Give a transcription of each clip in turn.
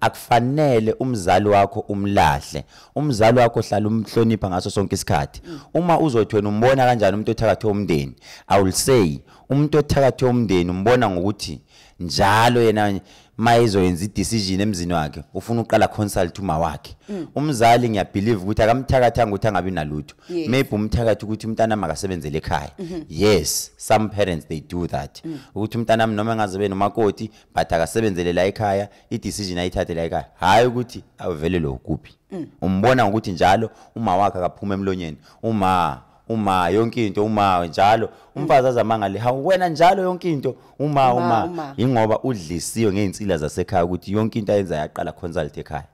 akufanele umzali wakho umlahle umzali wakho hlala umhlonipha ngaso sonke isikhathi mm. uma uzothi wena umbona kanjani umuntu othakathwe umndeni i will say umuntu othakathwe umndeni umbona ngokuthi njalo yena mayezoyenza idecision emzini wakhe ufuna uqala consult uma wakhe mm. umzali ngiyabelieve ukuthi akamthakathanga ukuthi angabi nalutho yes. maybe umthakathi ukuthi umntana makasebenzele ekhaya mm -hmm. yes some parents they do that mm. ukuthi umntana noma engaze benomakoti but akasebenzele la ekhaya i-decision ayithathe la ekhaya hhayi ukuthi avelelwe ukuphi mm. umbona ngokuthi njalo uma wakhe akaphuma emlonyeni uma uma yonke into uma njalo umfazi azamangale ha wena njalo yonke into uma uma ingoba udlisiwe ngeinsila zasekhaya ukuthi yonke into ayenza yaqala consult ekhaya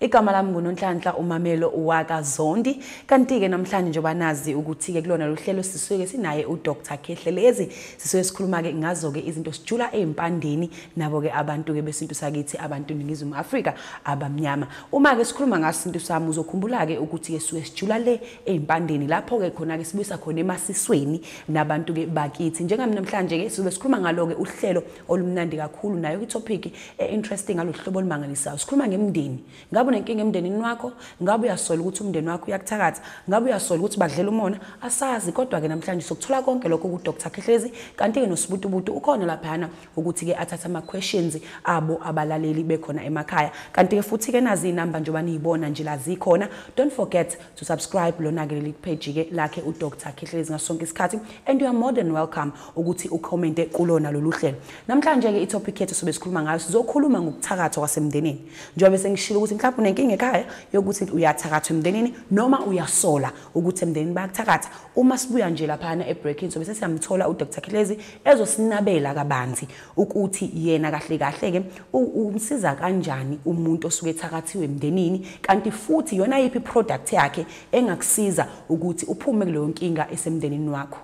Igama lami nguNonhlanhla uMamelo uwaka Zondi kanti-ke namhlanje njengoba nazi ukuthi-ke kulona lo hlelo sisuke sinaye uDr Khehlelezi sisuke sikhuluma-ke ngazo-ke izinto sijula ey'mpandeni nabo-ke abantu-ke besintu sakithi abantu Ningizimu Afrika abamnyama uma-ke sikhuluma ngaso isintu sami uzokhumbula-ke ukuthi-ke sisuke sijula le ey'mpandeni lapho-ke khona-ke sibuyisa khona emasisweni nabantu-ke bakithi njengami namhlanje-ke sizobe sikhuluma ngalo-ke uhlelo olumnandi kakhulu nayo kwitopic e-interesting ngalohlobo olumangalisayo sikhuluma ngemndeni ngabe unenkinga emndenini wakho ngabe uyasola ukuthi umndeni wakho uyakuthakatha ngabe uyasola ukuthi badlela umona asazi kodwa-ke namhlanje sokuthola konke lokho kudr khehlezi kanti-ke nosibutubutu ukhona laphayana ukuthi-ke athathe ama-questions abo abalaleli bekhona emakhaya kanti-ke futhi-ke nazi iy'namba njengoba niyibona nje la zikhona don't forget to subscribe lona-ke leli page-ke lakhe udr khehlelezi ngaso sonke isikhathi and you are more than welcome ukuthi ucommente kulona lolu hlelo namhlanje-ke itopic yethu sobe sikhuluma ngayo sizokhuluma ngokuthakathwa kwasemndenini njengoba bese ngishilo ukuthi mhlawumbe unenkinga ekhaya yokuthi uyathakathwa emndenini noma uyasola ukuthi emndenini bayakuthakatha uma sibuya nje laphana ebreaking sobe sesiyamthola udr khehlezi ezosinabela kabanzi ukuthi yena kahle kahle ke umsiza kanjani umuntu osuke ethakathiwe emndenini kanti futhi yona yipi product yakhe engakusiza ukuthi uphume kuleyo nkinga esemndenini wakho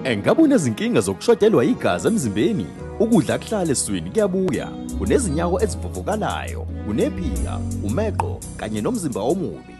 Engabe unezinkinga zokushodelwa igazi emzimbeni? Ukudla kuhlale eswini kuyabuya. Unezinyawo ezivuvukalayo, unephika, umeqo kanye nomzimba omubi.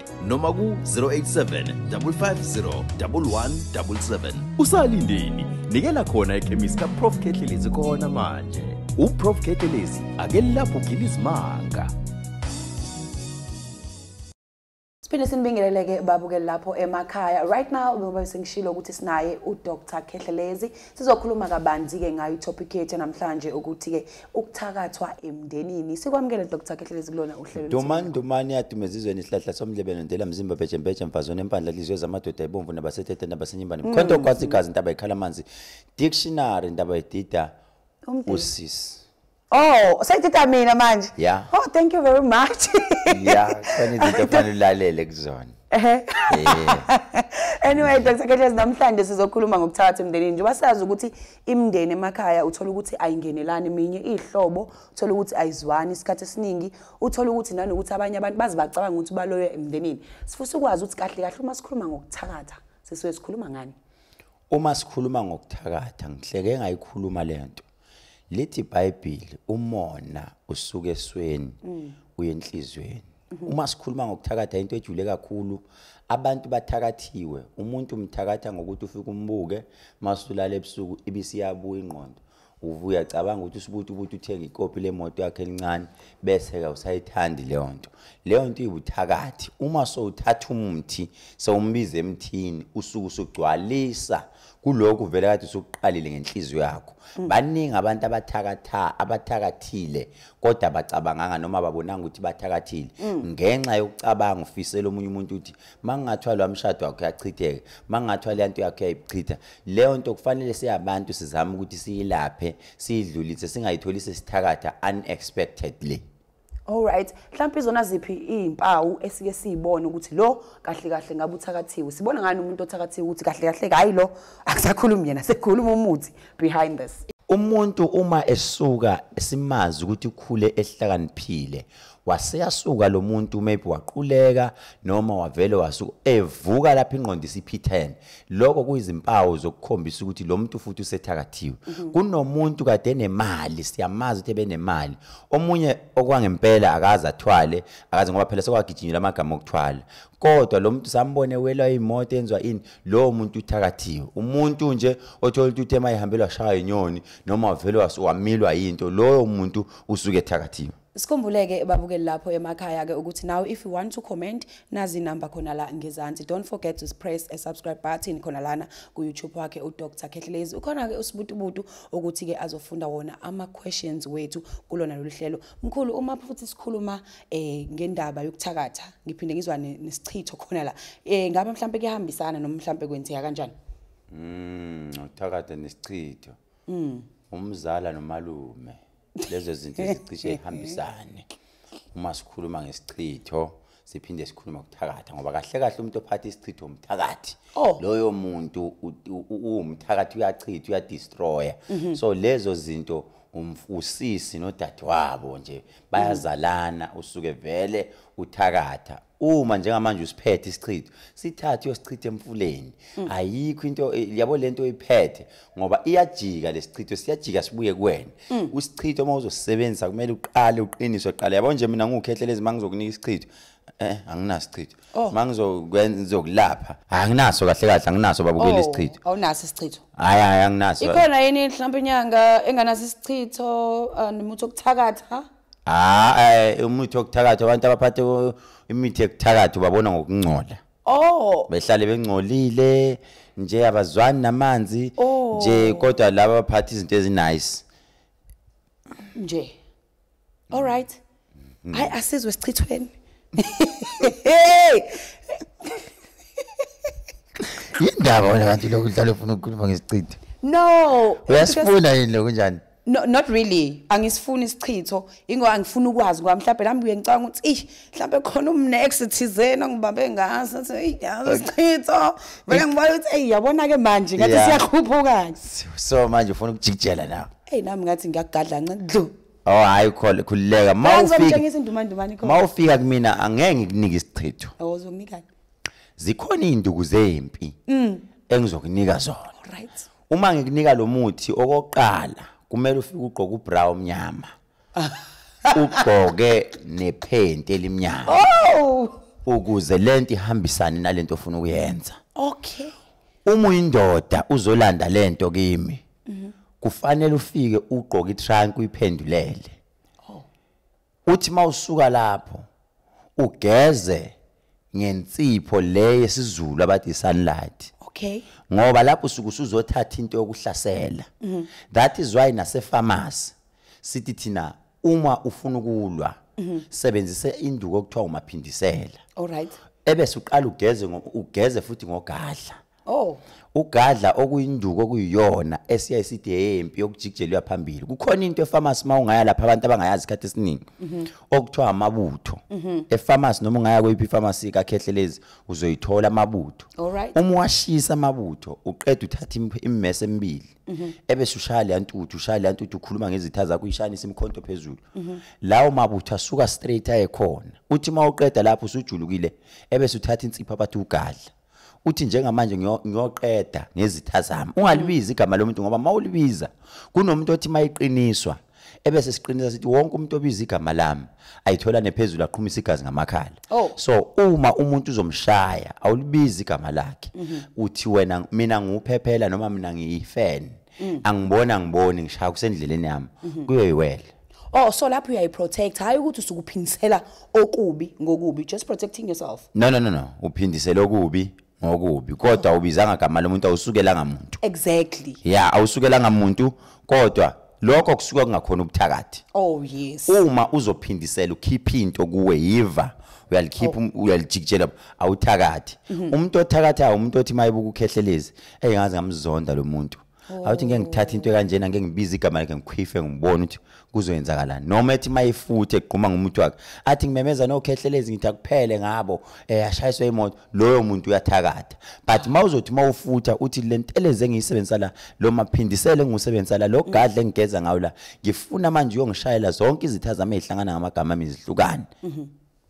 noma ku-087 550 1177 usalindeni nikela khona ekhemisi kaprof kehlelezi khona manje uprof kehlelezi ake lapho ugila izimanga siphinde sinibingeleleke babuke lapho emakhaya right now ngoba sengishilo ukuthi sinaye udr khehlelezi sizokhuluma kabanzi-ke ngayo itopic yethu namhlanje ukuthi-ke ukuthakathwa emndenini sikwamukele dr kehlelezi kulona uhlelo dumani dumani yadumeza izweni isihlahla somlebelo ndela mzimba bhejembeje mfazone empandla lizwe zamadoda ebomvu nabasethethe nabasenyimbane mm. mkhonto kwazi igazi intaba ikhala amanzi dictionary intaba idida usisi Oh, sayithatha mina manje. Yeah. Oh, thank you very much. yeah, kani izinto fanele ulalele kuzona. Eh. Anyway, Dr. Kethlez namhlanje sizokhuluma ngokuthatha emndenini njengoba sazi ukuthi imndeni emakhaya uthola ukuthi ayingenelani minye ihlobo uthola ukuthi ayizwani isikhathi esiningi uthola ukuthi nanokuthi abanye abantu bazi bacabanga ukuthi baloyo emndenini sifusa ukwazi ukuthi kahle kahle uma sikhuluma ngokuthakatha sisuke sikhuluma ngani uma sikhuluma ngokuthakatha ngihleke ngayikhuluma lento lithi iBhayibheli umona usuke esweni mm. uyenhlizweni Mhm. uma sikhuluma ngokuthakatha into ejule kakhulu abantu bathakathiwe umuntu umthakatha ngokuthi ufike umbuke masulala ebusuku ibisiyabuya ingqondo uvuya cabanga ukuthi usubuthi ukuthi uthenga ikopi lemoto yakhe elincane bese ke usayithandi leyo nto leyo nto ibuthakathi uma sowuthatha umuthi sewumbiza emthini usuku usugcwalisa kulokhu vele kade usuqalile ngenhliziyo yakho mm. baningi abantu abathakatha abathakathile kodwa bacabanganga noma babonanga ukuthi bathakathile mm. ngenxa yokucabanga ufisela omunye umuntu ukuthi mangingathiwa lo mshado wakho yachitheke mangingathiwa le nto yakho yayichitha leyo nto kufanele siyabantu sizame ukuthi siyilaphe siyidlulise singayitholi sesithakatha unexpectedly All right, mhlawumbe izona ziphi izimpawu esike siyibone ukuthi lo kahle kahle ngabe uthakathiwe. Sibona ngani umuntu othakathiwe ukuthi kahle kahle hayi lo akusakhulumi yena, sekukhuluma umuthi behind this. Umuntu uma esuka simazi ukuthi ukhule ehlakaniphile waseyasuka lo muntu maybe waquleka noma wavele wasuka evuka lapha ingqondo isiphithene lokho kuyizimpawu zokukhombisa ukuthi lo muntu futhi usethakathiwe mhm. kunomuntu kade nemali siyamazi ukuthi ebenemali omunye okwangempela akaze athwale akaze ngoba phela sekwagijinyelwa amagama okuthwala kodwa lo muntu sambone welwa imoto enzwa ini lowo muntu uthakathiwe umuntu nje othola ukuthi uthe mayihambelwa shaya inyoni noma wavele wamilwa yinto loyo muntu usuke ethakathiwe Sikhumbuleke babukeli lapho emakhaya ke ukuthi now if you want to comment nazi number khona la ngezansi don't forget to press a subscribe button khona lana ku YouTube wakhe u Dr Khehlelezi ukhona ke usibutubutu ukuthi ke azofunda wona ama questions wethu kulona lolu hlelo mkhulu uma futhi sikhuluma eh ngendaba yokuthakatha ngiphinde ngizwa nesichitho khona la eh ngabe mhlambe kuyahambisana noma mhlambe kwenzeka kanjani mm uthakatha nesichitho mm umzala nomalume lezo zinto ezicishe ihambisane uma sikhuluma ngesichitho siphinde sikhuluma kuthakatha ngoba kahle kahle umuntu ophatha isichitho umthakathi oh. loyo muntu uwumthakathi uyachitha uyadestroya mhm. so lezo zinto umfusisi nodadewabo nje bayazalana usuke vele uthakatha uma njengamanje usiphethe isichitho sithathe uyosichitha emfuleni mm. ayikho into eh, yabo lento oyiphethe ngoba iyajika lesichitho siyajika sibuye kuwena mm. usichitho uma uzosebenzisa kumele uqale uqinise uqale yabo nje mina ngukhehlele izimanga zokunika isichitho eh anginasichitho oh. mangizokwenza ngizokulapha anginaso kahle kahle anginaso babukela oh, isichitho awunaso isichitho hayi hayi anginaso ikhona yini mhlawumbe inyanga enganaso isichitho uh, nomuntu okuthakatha Ah, eh umuthi wokuthakatha abantu abaphathe u- imithi yokuthakatha ubabona ngokungcola. Oh, Behlale bengcolile nje abazwani namanzi Oh. nje kodwa laba abaphatha izinto ezinice. nje. All right. Hayi asizwe sichithweni. Hey, Indaba wena kanti lokudlala ufuna ukukhuluma ngesichitho. no. Uyasifuna yini lokunjani? No, not really angisifuni isichitho ingoba angifuni ukwazi ngoba mhlawumbe nami kuye ngicanga ukuthi ish mhlawumbe khona umnext thizeni ongibambe ngaso athi hey yazi isichitho vele ngibona ukuthi hey yabona ke manje ngathi siyakhuphuka so manje ufuna ukujikijela na hey nami ngathi ngiyagadla ncedlu Oh hayi khole khulileka mawufika mawufika kumina angeke ngikunike isichitho awuzokunika oh, zikhona izinduku zempi mm. engizokunika zona right uma ngikunika lo muthi okokuqala kumele ufike ugqoke ubra omnyama ugqoke nephenti elimnyama oh! ukuze lento ihambisane nalento ofuna ukuyenza okay uma uyindoda uzolanda lento kimi kufanele ufike ugqoke itrunk uyiphendulele uthi mawusuka lapho ugeze ngensipho le yesizulu abathi sunlight okay ngoba lapho usuku usuzothatha into yokuhlasela mhm. that is why nase pharmacy sithi thina uma ufuna ukulwa mhm. sebenzise induku okuthiwa umaphindisela all right ebese uqala ugeze ugeze futhi ngogadla Oh. Ugadla okuyinduku okuyiyona esiya isithi hempi yokujikijelwa phambili. Kukhona into efarmasi uma ungaya lapha abantu abangayazi isikhathi esiningi. Mhm. Okuthiwa amabutho. Mhm. Efarmasi noma ungaya kweyiphi pharmacy kakhehlelezi uzoyithola amabutho. Uma washisa amabutho uqeda uthatha immese emibili. Mhm. Ebese ushaya le ntuthu, ushaya le ntuthu ukhuluma ngezitha zakho uyishanisa imkhonto phezulu. Lawo mabutho asuka straight ayekhona. Uthi uma uqeda lapho usujulukile ebese uthatha insipho abathi ugadla. uthi njengamanje ngiyoqeda ngezitha zami ungalibizi igama lomuntu ngoba mawulibiza kunomuntu othi mayiqiniswa ebese siqinisa sithi wonke umuntu obiza igama lami ayithola nephezulu aqhumisa igazi ngamakhala oh. so uma umuntu uzomshaya awulibizi igama lakhe mhm. uthi wena mina nguphephela noma mina ngiyifeni mm. angiboni angiboni ngishaya kusendleleni yami mhm. kuyoyiwela oh so lapho uyayiprotect hayi ukuthi usukuphindisela okubi ngokubi just protecting yourself no no no no uphindisela okubi ngokubi kodwa ubizanga igama lomuntu awusukelanga muntu exactly yeah awusukelanga muntu kodwa lokho kusuka kungakhona ubuthakathi oh yes uma uzophindisela ukhipha into kuwe yiva uyalikhipha oh. um, uyalijikijela awuthakathi mhm. umuntu othakathayo umuntu othi mayibuka ukhehlelezi eyi ngaze ngamzonda lo muntu awuthi ngeke ngithathe into kanjena ngeke ngibize igama lakhe ngikhwife ngibone ukuthi kuzoyenzakalani noma ethi mayefuthe egquma ngomuntu wakhe athi ngimemeza nokhehlelezi ngithi akuphele ngabo eh ashayiswe imoto loyo muntu uyathakatha but mawuzothi mawufutha uthi lenteleze engiyisebenzisa la lo maphindisele engusebenzisa la lo gadle engigeza ngawo la ngifuna manje uyongishayela zonke izitha zami ezihlangana ngamagama ami zihlukane mhm.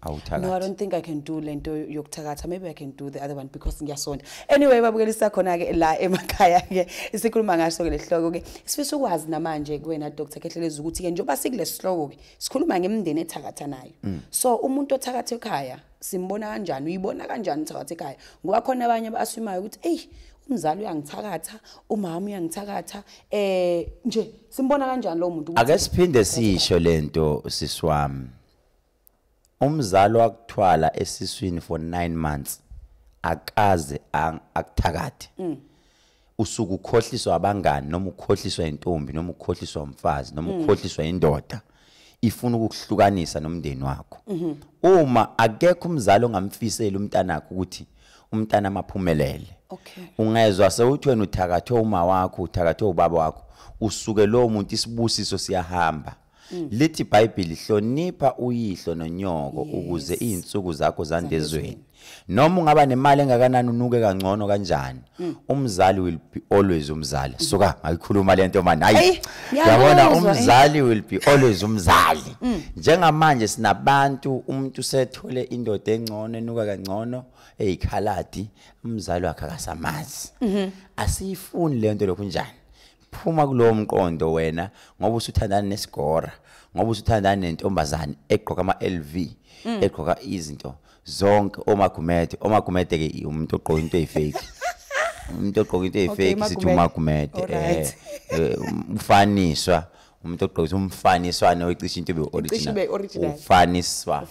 awuthakathi no i don't think i can do lento yokuthakatha maybe i can do the other one because ngiyasonda anyway babukela isakhona ke la emakhaya ke isikhuluma ngaso ke lesihloko ke sifisa ukwazi namanje kuwena dr khehleleza ukuthi ke njengoba sikulesihloko ke sikhuluma ngemndeni ethakatha nayo mm. so umuntu othakatha ekhaya simbona kanjani uyibona kanjani uthakatha ekhaya ngoba khona abanye abasumayo ukuthi eyi umzali uyangithakatha umama uyangithakatha eh nje simbona kanjani lo muntu ake siphinde sisho lento siswami umzali wakuthwala esiswini for 9 months akaze akuthakathe mm. usuku ukhohliswa abangani noma ukhohliswa intombi noma ukhohliswa umfazi noma mm. ukhohliswa indoda ifuna ukuhlukanisa nomndeni wakho mhm. uma akekho umzali ongamfiseli umntanakho ukuthi umntana maphumelele okay ungezwa sewuthi wena uthakathwe uma wakho uthakathwe ubaba wakho usuke lowo muntu isibusiso siyahamba Mm. lithi ibhayibhili hlonipha uyihlo nonyoko ukuze izinsuku zakho zandezweni noma ungaba nemali engakanani unuke kangcono kanjani mm. umzali will be always umzali mm. suka ngayikhuluma lento manje hayi yabona eh. umzali will be always umzali njengamanje sinabantu umuntu sethole indoda engcono enuka kangcono eyikhaladi umzali wakhe akasamazi mm-hmm. asiyifuni lento lokhu njani phuma kulowo mqondo wena ngoba usuthandana nesigora ngoba usuthandana nentombazane egqoka ama-lv mm. egqoka izinto zonke omagumede omagumede ke umuntu ogqoka into eyifake umuntu ogqoka into eyifake sithi umagumede eh, eh, umfaniswa umuntu ogqoka umfaniswane oyicisha into be-original ufaniswa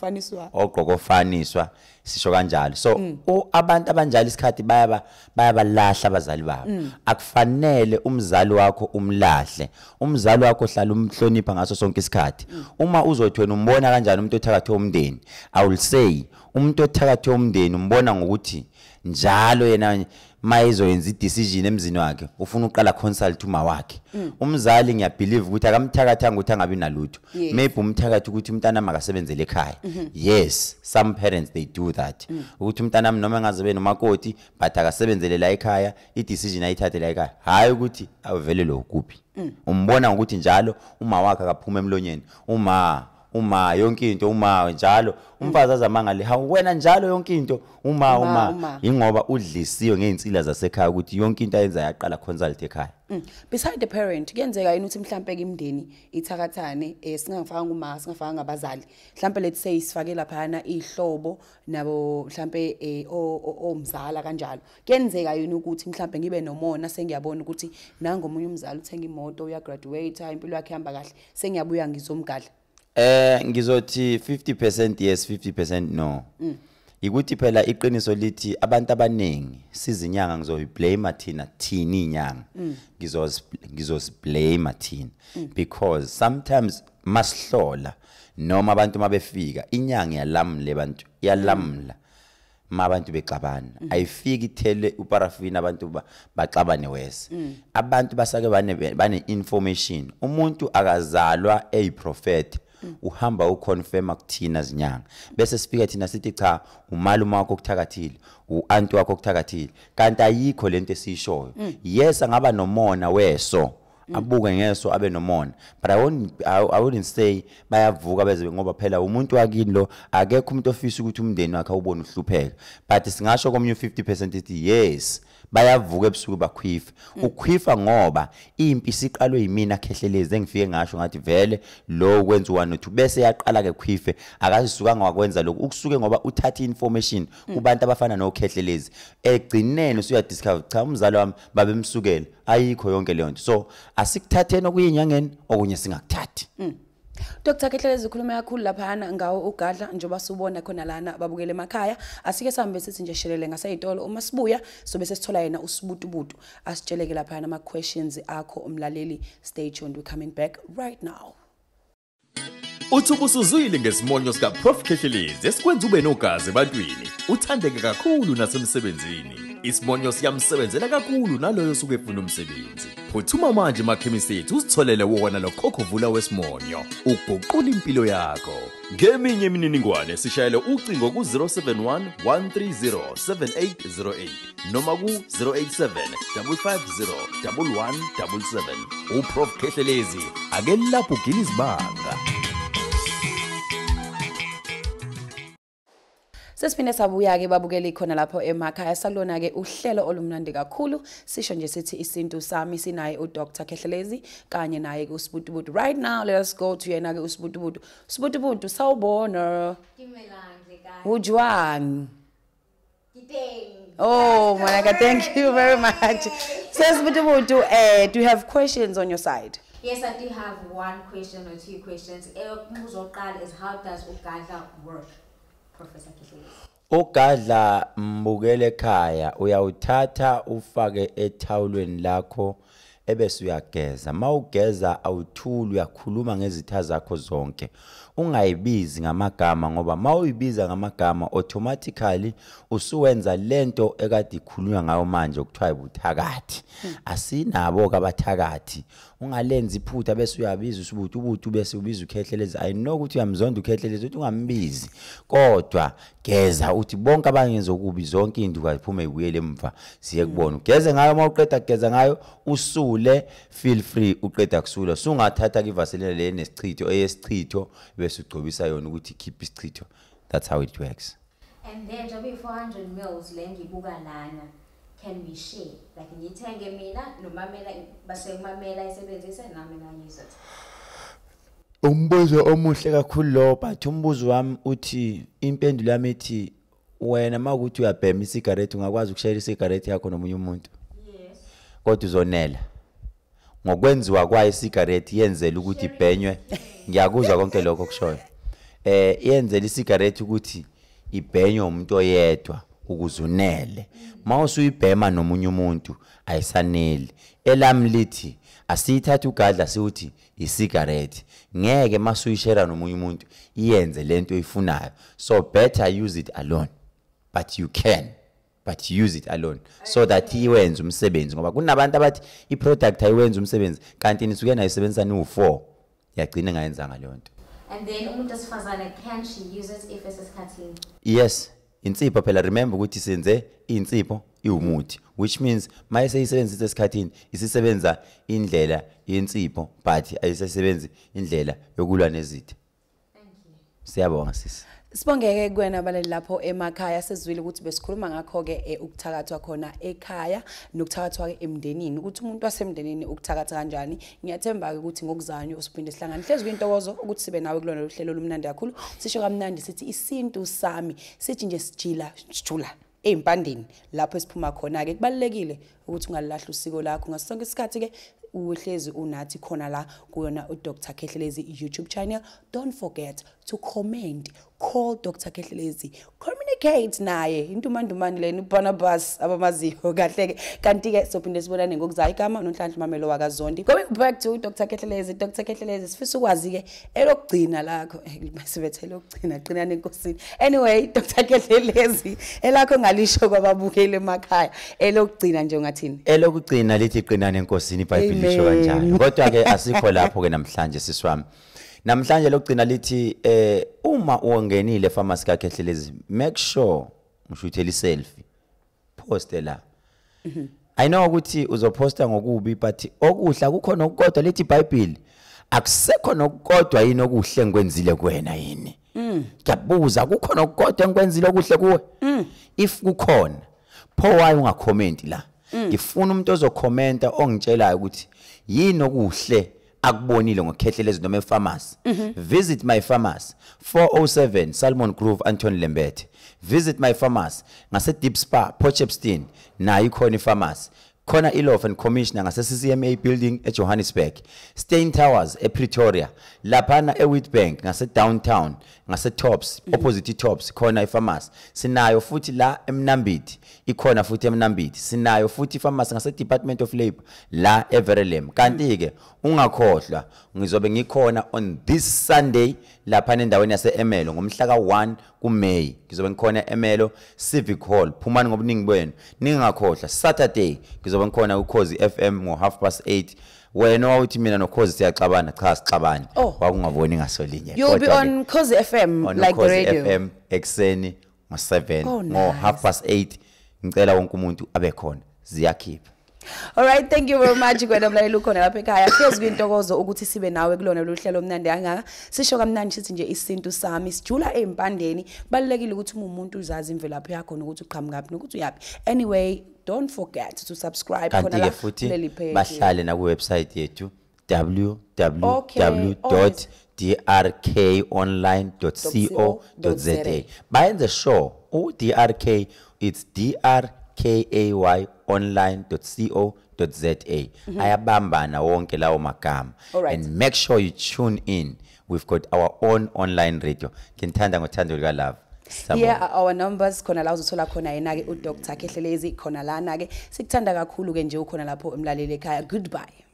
ogqoka ofaniswa sisho kanjalo so mm. abantu abanjalo isikhathi bayaba bayabalahla abazali babo mm. akufanele umzali wakho umlahle umzali wakho hlala umhlonipha ngaso sonke isikhathi mm. uma uzothi wena umbona kanjani umuntu othakathe umndeni i will say umuntu othakathe umndeni umbona ngokuthi njalo yena maye izoyenza i-decision emzini wakhe ufuna uqala consult uma wakhe mm. umzali ngiyabhilive ukuthi akamthakathanga ukuthi angabi nalutho yes. maybe umthakathi ukuthi umntana makasebenzele ekhaya mm -hmm. yes some parents they do that mm. ukuthi umntana wami noma engaze be nomakoti but akasebenzele la ekhaya i-decision ayithathe la ekhaya hhayi ukuthi avelelwe ukuphi mm. umbona ngokuthi njalo uma wakhe akaphuma emlonyeni uma uma yonke into uma njalo umfazi azamangale ha wena njalo yonke into uma uma ingoba udlisiwe ngeinsila zasekhaya ukuthi yonke into ayenza yaqala consult ekhaya mm. beside the parent kuyenzeka yini ukuthi mhlambe ke imndeni ithakathane eh singafaka uma singafaka ngabazali mhlambe let's say sifake laphana ihlobo nabo mhlambe eh omzala kanjalo kuyenzeka yini ukuthi mhlambe ngibe nomona sengiyabona ukuthi nangomunye umzali uthenga imoto uya graduate impilo yakhe ihamba kahle sengiyabuya ngizomgadla eh ngizothi 50% yes 50% no mm. ikuthi phela iqiniso lithi abantu abaningi sizinyanga ngizoyiblame thina thina inyanga mm. ngizos ngizosiblame thina mm. because sometimes masihlola noma abantu mabefika inyanga yalamle abantu yalamla mm. ma abantu bexabana mm. ayifiki ithele uparafini abantu baxabane wese mm. abantu basake bane bane information umuntu akazalwa eyiprofeti mm. uhamba uconfirma kuthina zinyanga bese sifika thina sithi cha umalume wakho okuthakathile uanti wakho okuthakathile kanti ayikho lento esishoyo mm. yes angaba nomona weso Mm. abuke ngeso abe nomona but i wouldn't I, I wouldn't say bayavuka beze ngoba phela umuntu wakini lo akekho umuntu ofisa ukuthi umndeni wakhe ubone uhlupheka but singasho komunye 50% ithi yes bayavuka ebusuku bakhwifa mm. ukhwifa ngoba impi isiqalwe yimina khehlelezi engifike ngasho ngathi vele lo kwenza one two bese yaqala ke khwife akazisuka ngakwenza lokho ukusuke ngoba uthatha information mm. kubantu abafana nokhehlelezi egcineni usuya discover cha umzalo wami babemsukele ayikho yonke leyo nto so asikuthatheni okuye enyangeni okunye singakuthathi mm. Dr Kehlelezi ukhuluma kakhulu laphana ngawo ugadla njengoba subona khona lana babukele emakhaya asike sambe sithi nje shelele ngaseyitolo uma sibuya sobe sesithola yena usibutubutu asitsheleke laphana ama questions akho umlaleli stay tuned we coming back right now Uthi ubusuzwile ngesimonyo sikaProf Khehlelezi esikwenza ube nogazi ebantwini, uthandeke kakhulu nasemsebenzini. Isimonyo siyamsebenzela kakhulu naloyo osuke efuna umsebenzi. Phuthuma manje emakhemisi ethu uzitholele wona lo khokhovula wesimonyo, uguqula impilo yakho. Ngeminye imininingwane sishayele ucingo ku-071 130 7808. noma ku-087 550 1177 uprof khehlelezi ake lapho ugila izibanga sesiphinde sabuya-ke babukele ikhona lapho emakhaya salona-ke uhlelo olumnandi kakhulu sisho nje sithi isintu sami sinaye udr khehlelezi kanye naye-ke usibutubutu right now let us go to yena-ke usibutubutu usibutubutu sawubona ujwang Oh, Monica, thank you very much. Says Butubutu, uh, do you have questions on your side? Yes, I do have one question or two questions. Eyokuqala is how does ugadla work, Professor Kithlezi? Ugadla mbukele ekhaya uyawuthatha ufake ethawulweni lakho ebese uyageza mawugeza awuthuli uyakhuluma ngezitha zakho zonke ungayibizi ngamagama ngoba mawuyibiza ngamagama automatically usuwenza lento ekade ikhulunywa ngayo manje okuthiwa ibuthakathi hmm. asinabo kabathakathi ungalenzi iphutha bese uyabiza usubuthi ubuthi bese ubiza ukhehleles i know ukuthi uyamzonda ukhehleles ukuthi ungambizi kodwa geza uthi bonke abangenza okubi zonke induka ziphume ibuyele emva siye kubona ugeze ngayo uma uqeda kugeza ngayo usule feel free uqeda kusula sungathatha kivaseline le nesichitho eyesichitho bese ugcobisa yona ukuthi keep isichitho that's how it works and then njengoba i-400 mils le ngibuka lana can we share like ngiyithenge mina nomamela basemamela isebenzise nami ngayizotha Umbuzo omuhle kakhulu lo but umbuzo wami uthi impendulo yami ithi wena makuthi uyabhema isigareti ungakwazi ukushayela isigareti yakho nomunye umuntu yes kodwa uzonela ngokwenziwa kwayo isigareti yenzela ukuthi ibhenywe ngiyakuzwa konke lokho kushoyo eh yenzela isigareti ukuthi ibhenywe umuntu oyedwa ukuze unele uma usuyibhema nomunye umuntu ayisaneli elami lithi asiyithathe ugadla siwuthi isigareti ngeke masuyishera nomunye umuntu iyenze lento oyifunayo so better use it alone but you can but use it alone so that iwenze umsebenzi ngoba kunabantu abathi iproduct ayiwenza umsebenzi kanti nisuke nayisebenzisa niwu-4 yagcina ngayenzanga leyo nto and then umuntu wesifazane can she use it if esesikhathini yes insipho phela remember ukuthi senze insipho iwumuthi which means maye seyisebenzisa esikhathini isisebenza indlela yensipho but ayisesebenzi indlela yokulwa nezitha siyabonga sisi Sibongeke kuwena baleli lapho emakhaya sezwile ukuthi besikhuluma ngakho ke eh, ukuthakathwa khona ekhaya nokuthakathwa ke emndenini ukuthi umuntu wasemndenini ukuthakatha kanjani ngiyathemba-ke ukuthi ngokuzanywa usuphinde sihlangane hlezi kuyintokozo ukuthi sibe nawe kulona lolu hlelo olumnandi kakhulu sisho kamnandi sithi isintu sami sithi nje sijila sijula ezimpandeni lapho esiphuma khona ke kubalekile ukuthi ungalilahla usiko lakho ngaso sonke isikhathi ke uhlezi unathi khona la kuyona uDr Khehlelezi YouTube channel don't forget to comment call dr kehlelezi communicate naye intumandumane lena ubarnabas abamaziyo kahle-ke kanti-ke sophinde sibonane ngokuzayo igama nonhlanhla umamelo wakazondi going back to dr kehlelezi dr kehlelezi sifisa ukwazi-ke elokugcina lakho eh, sebethe elokugcina qinani enkosini anyway dr kehlelezi elakho ngalisho kwababukeli emakhaya elokugcina nje ungathini elokugcina lithi qinani enkosini ibhayibhile lisho kanjani kodwa-ke asikho lapho-ke namhlanje siswami namhlanje lokugcina lithi eh uma uwongenile pharmacy ka Khehlelezi make sure ushuthela iselfie post la mhm. i know ukuthi uzoposta ngokubi but okuhla kukhona okukodwa lithi bible akusekho nokukodwa yini okuhle ngikwenzile kuwena yini Mm. Ngiyabuza kukhona okukodwa engikwenzile okuhle kuwe? Mm. If kukhona, pho why ungacommenti la? Mm. Ngifuna umuntu ozokhomenta ongitshelayo ukuthi yini okuhle akubonile ngokhehlele izinto me pharmacy. Mhm. Visit my pharmacy 407 Salmon Grove Anton Lembethe. Visit my pharmacy ngase Deep Spa Port Shepstone nayo ikhona ipharmacy. khona i-law and commissioner ngase-ccma building ejohannesburg stein towers epretoria laphana ewitbank ngasedowntown ngase-tops mhm. opposite i-tops khona ifamasi sinayo futhi la emnambithi ikhona futhi emnambithi sinayo futhi ifamasi ngase-department of labour la everelem kanti-ke ungakhohlwa ngizobe ngikhona on this sunday laphana endaweni yase-emelo ngomhla ka-1 kuMay ngizobe ngikhona eMelo Civic Hall phumani ngobuningi benu ningakhohlwa Saturday ngizobe ngikhona kuKhozi FM ngo half past 8 wena wawuthi mina nokhozi siyaxabana cha sixabani oh. wakungaboni ngasolinye you'll be on Khozi FM on like the radio FM ekseni ngo 7 ngo half past 8 ngicela wonke umuntu abe khona ziyakhipha Alright thank you very much kwena mlaleli ukhona lapha ekhaya hlezi kwintokozo ukuthi sibe nawe kulona lolu hlelo omnandi kangaka sisho kamnandi sithi nje isintu sami sijula ezimpandeni kubalekile ukuthi umuntu uzazi imvelaphi yakho nokuthi uqhamuka phi nokuthi uyapi anyway don't forget to subscribe khona la kuleli page bahlale na ku website yethu www.drkonline.co.za bayenze sure u-drk it's drkay online.co.za za mhm. ayabambana wonke lawo magama and make sure you tune in we've got our own online radio nginithanda ngothando lukalove here are our numbers khona la uzothola khona yena-ke udr khehlelezi khona lana-ke sikuthanda kakhulu-ke nje ukhona lapho emlaleli ekhaya goodbye